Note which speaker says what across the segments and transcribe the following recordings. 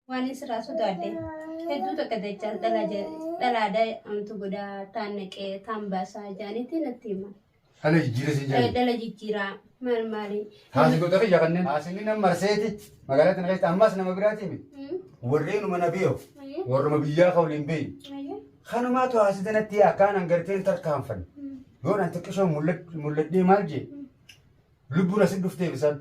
Speaker 1: Waan sirraa sodaadhe hedduu takka dachaa dhalaada amtu godhaa taan naqee taan baasaa jaanitti natti hima. Dhala jijjiira siin
Speaker 2: jaani. Dhala jijjiiraa
Speaker 1: maal maali. Haasi goota kiyya
Speaker 2: kanneen. Haasinni nama marseeti magaalaa tana keessatti ammas nama biraatii mi. Warreenuma na beeku warruma biyyaa ka waliin beeyi. Kanumaatu haasite natti akkaan hangarteen tarkaanfanne. Yoon an xiqqishoon mul'adhee maal jee lubbuun asin dhufteef isaan.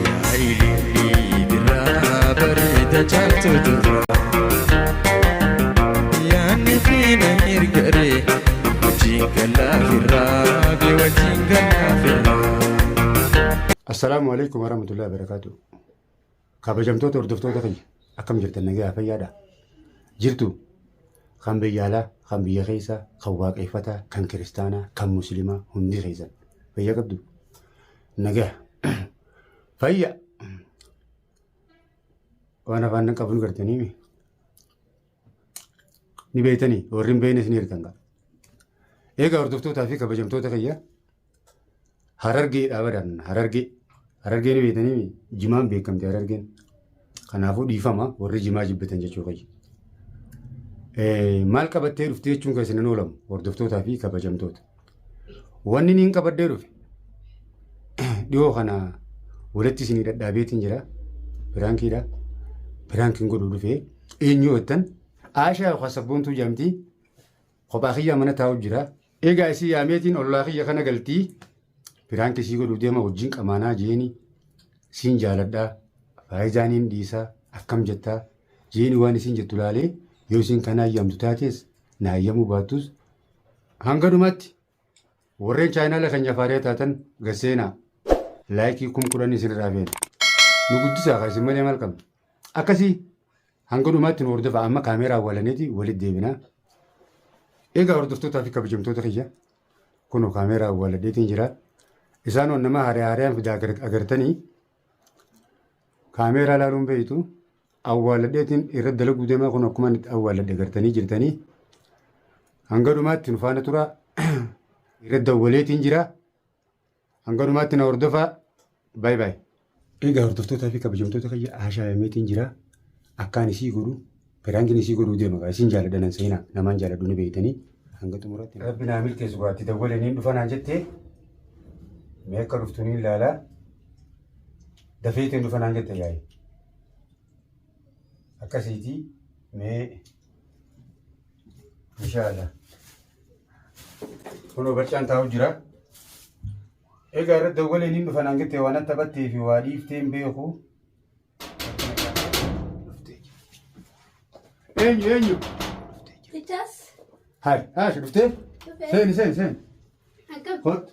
Speaker 1: Yaa
Speaker 3: ilillii birraa bareeda caaltu durraa. Yaanni fiina ergaree wajjin gallaa firraa bee wajjin gallaa firraa. Assalaamu alaikum
Speaker 2: warahmatullahi wabarakatuh. Kabajamtoota hordoftoota kiyya akkam jirtan nagaa fayyaadha. Jirtu kan biyya alaa, kan biyya keessaa, kan waaqeffataa, kan kiristaanaa, kan musliimaa hundi keessan fayyaa qabdu. Nagaa. Fayya. Waan afaan nan qabu ni gartanii mi? Ni beektanii warri hin beeknes ni hirkan qaba. Egaa hordoftootaa fi kabajamtoota kiyya harargee dhaabadan harargee harargee ni beektanii mi? Jimaan beekamte harargeen. Kanaafuu dhiifama warri jimaa jibbitan jechuu kayya. Maal qabattee dhufte jechuun kan isin oolamu hordoftootaa fi kabajamtoota. Wanni niin qabaddee dhufe dhiyoo kana walitti isinii dhadhaabeetiin jira. Piraankiidha. Piraankiin godhuu dhufe eenyu jettan Aashaa yookaan sabboontuu jaamtii Kophaa kiyyaa mana taa'u jira. Eegaa isii yaameetiin ollaa kiyya kana galtii piraanki isii godhuu deema wajjin qamaanaa jeeni siin jaaladhaa faayizaan hin dhiisaa akkam jettaa jeeni waan isiin jettu laalee yoo isiin kana ayyaamtu taatees na ayyaamuu baattus hanga dhumaatti Warreen chaayinaala keenya faariyaa taatan gad seenaa. Laayikii kum kudhanii isinirraa feena. Nu guddisaa kaa isin malee maal qabna? Akkasii hanga dhumaatti nu hordofaa amma kaameeraa awwaalaniiti walitti deebinaa. Egaa hordoftootaa fi kabajamtoota kiyya kunoo kaameeraa awwaaladheetiin jira. Isaan on nama haaree haareen fidaa agartanii kaameeraa laaluun beeytu. awwaaladheetiin irra dalaguu deemaa kun akkuma itti awwaaladhe gartanii jirtanii hanga dhumaatti nu faana tura irra dawwaleetiin jira hanga dhumaatti na hordofaa baay baay. Egaa hordoftootaa fi kabajamtoota kiyya haashaayameetiin jira akkaan isii godhu piraankiin isii godhuu deema gaa isin jaaladha nan seenaa namaan jaaladhu ni beektanii hanga xumuraatti. Rabbi naa milkeessu gaa itti dawwalee niin dhufa naan jettee mee akka dhuftu niin laalaa dafeetiin dhufa naan jette yaa'e. akkasiiti mee inshaalla kunoo barcaan taa'u jira egaa irra dawwaleen hin dhufan hangitte waan atta battee fi waa dhiifteen beeku eenyu eenyu Tichas,
Speaker 1: hai
Speaker 2: haashi dhuftee dhufee. seeni seeni seeni Akkam?
Speaker 1: Kot.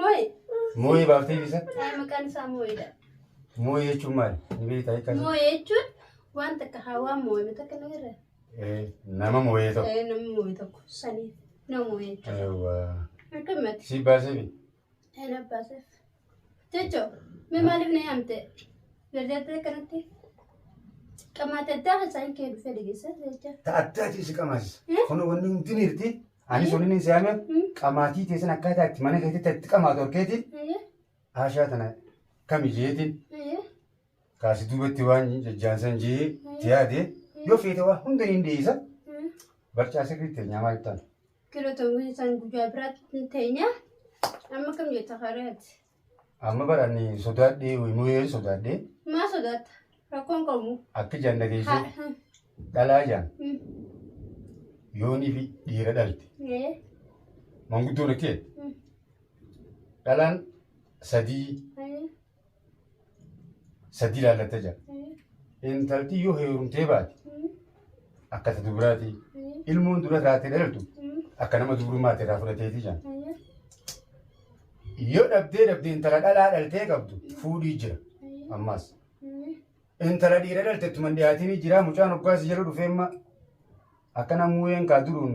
Speaker 1: Moo'ee.
Speaker 2: Moo'ee baaftee fi isa? Ee, Maqaan isaa moo'eedha.
Speaker 1: Moo'ee jechuun
Speaker 2: maali? Ni beektaa hiikkaa isaa? Moo'ee jechuun
Speaker 1: waan takka haa waan moo'ame takka ni irra. Ee, Nama
Speaker 2: moo'ee tokko. Ee, Namni moo'ee tokko
Speaker 1: sanii nama moo'ee jechuudha. Eewwa. Akkamitti? Si baasee fi?
Speaker 2: Ee, na baaseef.
Speaker 1: Jechoo, mee maaliif na yaamte? Gargaartee akkanatti? Qamaata addaa isaan kee dhufee dhageessaa jecha. Ta addaa ta'e si qamaasisa.
Speaker 2: Eh? Kun wanni hundi ni hirti. Anis waliin hin siyaame qamaatii teessan akkaataa itti mana keetitti itti qamaatu horkeetiin haashaa tana kami jeetiin kaasi duubatti waan jajjaansan jee tiyaade yoo feete waa hunda hin dhiyeessa barcaa sirrii teenyaa maal ta'an. Kilo tangu
Speaker 1: isaan guyyaa biraatti hin teenya. Amma kam jetta kareeti? Amma bar
Speaker 2: ani sodaadhee immoo yeeri sodaadhee Maa sodaatta?
Speaker 1: Rakkoon qabu. akki jaan dhageessee
Speaker 2: Haadha. dhalaa jaan Hmm. yoonii fi dhiira dhalte Ee. manguddoon akki jedhe Hmm. dhalaan sadii Ee. sadii laallatta jira. Intalti yoo heerumtee baate akka ta dubiraati. Ilmoon dura irraatti dhalattu akka nama dubrummaatti irraa fudhateeti jira. Yoo dhabdee dhabde intala dhalaa dhaltee qabdu fuudhii jira. Ammaas. Intala dhiira dhalte ittuma hin dhiyaatinii jira. Mucaan hoggaas jala dhufee amma akkana muuyeen kaa duruun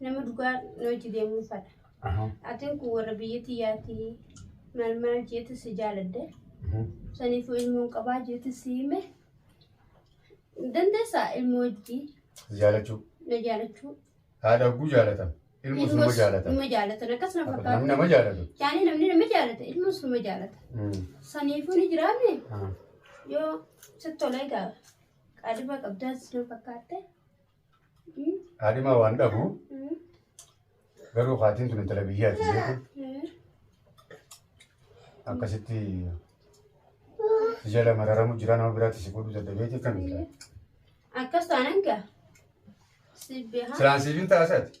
Speaker 1: nama dhugaa na hojii deemuu fadha. Atiin kun warra biyya tiyyaatii maal maal jeetu si jaaladde. Saniifuu ilmoon qabaa jeetu si hime. Dandeessaa ilmoo hojii Jaalachuu.
Speaker 2: na jaalachuu.
Speaker 1: Haadha hogguu
Speaker 2: jaalatan. Ilmoos nama Ilmoos jaalatan. nama jaalatan akkas na Namni
Speaker 1: fakkaata. nama jaalatu. Yaani
Speaker 2: namni nama jaalata
Speaker 1: ilmoos nama jaalata. Mm. Saniifuu ni jiraame Ah. yoo sitti tolee gaa qaadhima qabdaas na fakkaatte.
Speaker 2: Haadhimaa waan dhabu garuu haatiin tun intala biyyaati beeku. Akkasitti si jala mararamu jira nama biraatti si fuudhuu dadhabeeti akkamitti? Akkas
Speaker 1: taanaan gaa. Sibbee
Speaker 2: haa. Silaan siif hin taasise ati?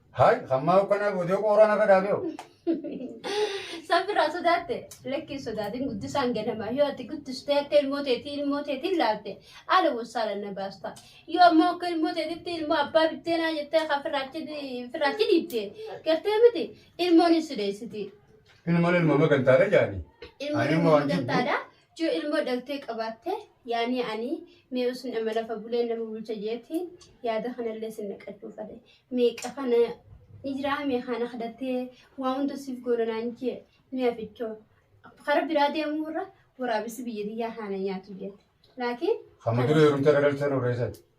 Speaker 1: Haay hammaa
Speaker 2: ukkanaa boodee qooraa narra dhaabee hoo.
Speaker 1: Sabbiraa sodaatte lakkii sodaatiin guddisaan ganama yoo ati guddistee akka ilmoo teetii ilmoo teetiin laalte haala wasaala na baasta yoo ammoo akka ilmoo teetitti ilmoo abbaa bitteenaa jettee kan firraachi firraachi dhiibde gartee miti ilmoon hin sideessiti Ilmoon ilma
Speaker 2: magantaadha jaani. ilmoon Ani immoo ilmoo waan
Speaker 1: jibbu. gantaadha Yoo ilmoo dhaltee qabaatte yaanii anii mee usun ama lafa buleen nama bulcha jeetiin yaada kanallee sin naqachuu fade meeqa kana ni jiraa mee kana kadhattee waa hunda siif goona naan jee mee afichoo kara biraa deemuu irra waraabessi biyya tiyyaa haana nyaatu jeette laakiin Amma dura heerumtee
Speaker 2: dhaltee nu reessatti.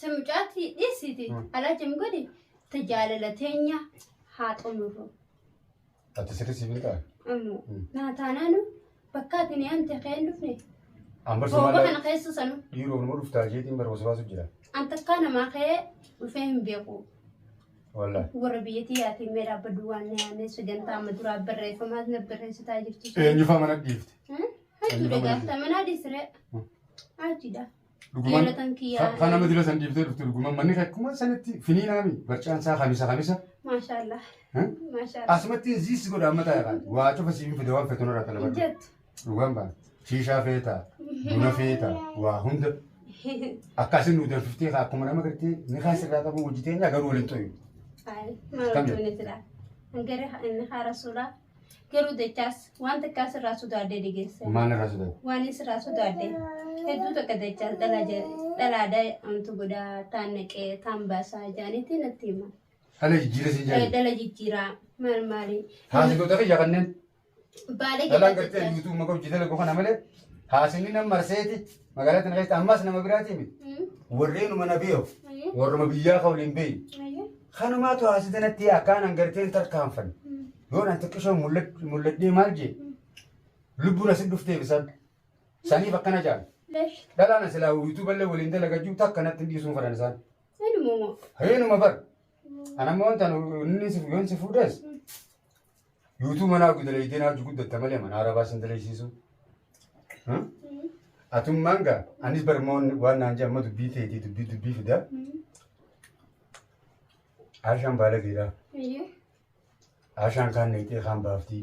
Speaker 2: Ta mucaatti
Speaker 1: dhiisiti Mm. alaa jam godhi ta jaalala teenya haa xumurru. Ati
Speaker 2: sirri siif hin taane. Ammoo Mm. naa taanaanu
Speaker 1: bakka ati ni amte kee hin dhufne Amma booba kana
Speaker 2: sumaala keessa
Speaker 1: sanu
Speaker 2: dhiiroo
Speaker 1: nama dhuftaa jeetiin
Speaker 2: bara waswaasu jira. an takkaa namaa
Speaker 1: kee dhufee hin beeku. Wallah.
Speaker 2: Warra biyyatii
Speaker 1: yaatiin mee dhaabbaduu waan na yaannee sagantaa amma duraa barreeffamaas na barreessitaa jirtu. Eenyufaa mana dhiifte?
Speaker 2: Hajjuudha
Speaker 1: gaafta manaa dhiisiree. Hajjuudha. Dhuguman
Speaker 2: Jaalatan kiyyaa. ka- kana
Speaker 1: madira san dhiiftee
Speaker 2: dhufte dhuguman manni kee akkuma sanitti finiinaami barcaan isaa kamisa kamisa. Maashaallah.
Speaker 1: Eh? Maashaallah. Asumatti ziis
Speaker 2: godha amma taa'e kan waa cufa siif hin fide waan feetu nurraa talabadhu. Jettu. Dhugaan baana. Shiishaa feeta, buna feeta, waa hunda. Akkaasin nu danfiftee kaa akkuma nama gartee ni kaa sirraa qabu hojii teenya garuu waliin xoyu. Ay, Kam maal jedhu? goone silaa?
Speaker 1: Hangare inni haa rasuulaa. Garuu dachaas waan takkaa sirraa sodaadhee dhigeessa. Maal irraa sodaate? Waan
Speaker 2: sirraa sodaadhee
Speaker 1: hedduu takka dachaas dhalaa ja- dhalaa daa'imtu godhaa taan naqee taan baasaa jaanitti natti hima. Dhala jijjiiree siin
Speaker 2: Eh, jaani. Dhala jijjiiraa
Speaker 1: maal maali? Haasitoota kiyya
Speaker 2: kanneen Baalee
Speaker 1: dhalaan gartee dachaa. yuutuub
Speaker 2: maqaa hojii dalagoo kana malee haasinni nan marseeti Magaalaa tana keessatti ammas nama biraatii mi? Warreenuma na beeku. Warruma biyyaa ka waliin beeyi. Kanumaatu haasite natti akkaan hangarteen tarkaanfan. Yoo naan xiqqishoon mul'adhee maal jee? Lubbuun asin dhufteef isan. Saniif akkana jaan.
Speaker 1: Dhalaan asilaa
Speaker 2: yuutuuballee waliin dalagajuu takka natti hin dhiisuun fadhan isaan.
Speaker 1: Reenuma bar.
Speaker 2: Anammoo wantan inni si yoon si fuudhes Yuutuu manaa gudaleydeen haaju guddatta malee manaa rabaa sin daleysiisu. Atummaan gaa anis barmoon waan naan jedhan amma dubbii teetii dubbii dubbii fida. Aashaan baalageedha. Aashaan kaan neyxee kaan baaftii.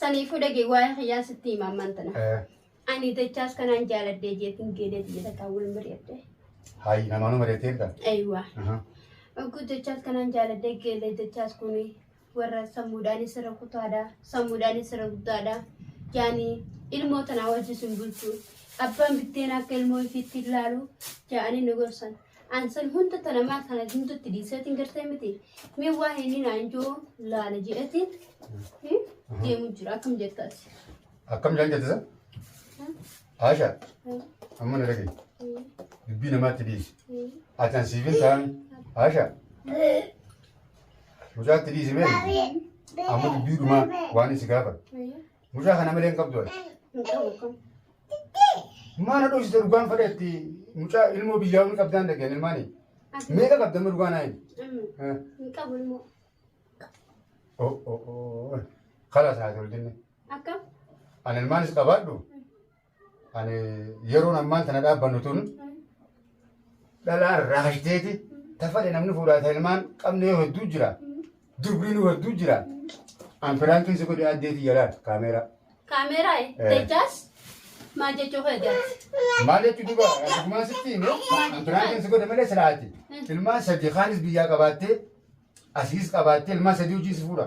Speaker 1: Saniifuu dhagee waa'ee kiyyaa sitti hima ammaan tana. Eh, Ani dachaas kanaan jaaladhee jeetiin geedee biyya takkaa wal mari'adhe. Hayi
Speaker 2: namaanuu mari'ateerta. Eeyyuwaa. Aha.
Speaker 1: Oguu dachaas kanaan jaaladhee geedee dachaas kun warra sammuudhaanis irra kutaadha. Sammuudhaanis irra guddaadha. Yaani ilmoo tanaa wajjin sin bulchu. Abbaan bitteen akka ilmoo ifiitti ilaalu jaa'anii nu gorsan. An san hunda tana maa kana gintutti dhiiseetiin gartee miti. Mee waa inni naan joo laala jedhetiin deemu jira akkam jettaati. Akkam jaan
Speaker 2: jette san? Aasha amma na dhagaye. Dubbii namaatti dhiisi. Ati an siif hin taane. Aasha mucaatti dhiisi mee amma dubbii dhumaa waan isi gaafatu. Mucaa kana malee hin qabdu ati. Hin qabu kun. Maana dhoofsite dhugaan fadheetti mucaa ilmoo biyyaa ol qabdaan dhageen ilmaanii. Ati Meeqa qabda amma dhugaan ayin? amma hin
Speaker 1: qabu ilmoo. Oh oh
Speaker 2: oh. Kalas haa tolu jenne. Akkam?
Speaker 1: Ani ilmaanis
Speaker 2: qabaadhu. Ani yeroon ammaan tana dhaabbannu tun dhalaan raashdeeti tafadhe namni fuudhaa ta ilmaan qabne yoo hedduu jira dubriinuu hedduu jira an piraankiin si godhe addeetii jalaal kaameeraa Kaameeraa
Speaker 1: Eh. jechaas maal jechuu kee jaati? maal jechuu duba
Speaker 2: dhugumaan sitti hime an piraankiin si godhe malee silaati ilmaan sadii kaanis biyyaa qabaattee asiis qabaattee ilmaan sadii wajjin si fuudha